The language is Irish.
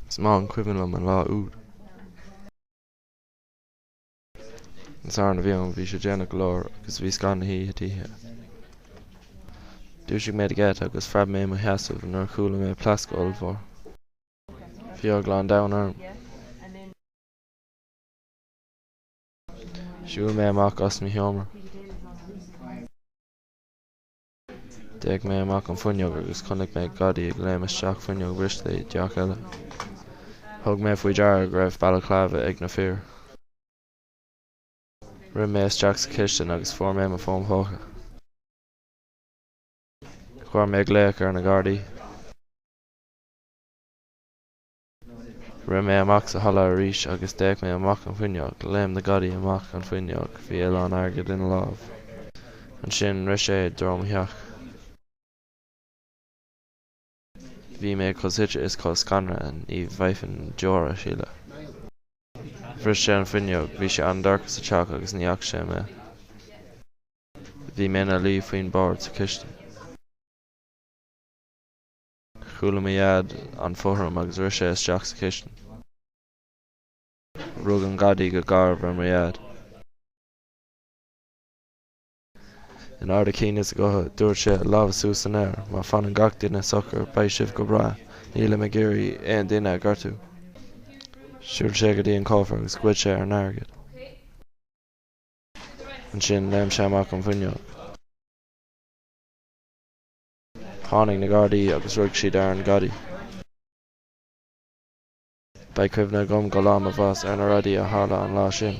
Is maith an cuimhin liom an lá úd. An Satharn a bhí ann, bhí sé déanach go leor agus bhí scáth na hoíche tite. Dhúisigh mé de gheit agus phreab mé i mo sheasamh nuair a chuala mé pléascadh ollmhór. Bhí eagla an domhain orm. Shiúil mé amach as mo sheomra. D'fhéach mé amach an fuinneog agus chonaic mé gadaí ag léim isteach fuinneog bhriste i dteach eile. Thug mé faoi deara go raibh balaclava ag na fir. Rith mé isteach sa chistin agus fuair mé mo fón póca. Chuir mé glaoch ar na gardaí. Rith mé amach sa halla arís agus d'fhéach mé amach an fuinneog. Léim na gadaí amach an fuinneog. Bhí a lán airgid ina lámh. Ansin rith sé i dtreo mo theach. Bhí mé chomh suaite is chomh scanraithe ní bhféadfainn deoir a shileadh. Bhris sé an fuinneog. Bhí sé an-dorcha sa teach agus ní fhaca sé mé. Bhí mé ina luí faoin bord sa chistin. Chuala mo Dhaid an fothram agus rith sé isteach sa chistin. Rug an Gadaí go garbh ar mo Dhaid. In ard a chinn is a ghutha, dúirt sé, Lámha suas san aer, má fanann gach duine socair, beidh sibh go breá. Nílim ag iarraidh aon duine a ghortú. Shiúil sé go dtí an cófra agus ghoid sé ár n-airgead. Ansin, léim sé amach an bhfuinneog. Tháinig na Gardaí agus rug siad ar an gadaí. Beidh cuimhne agam go lá mo bhás ar na rudaí a tharla an lá sin.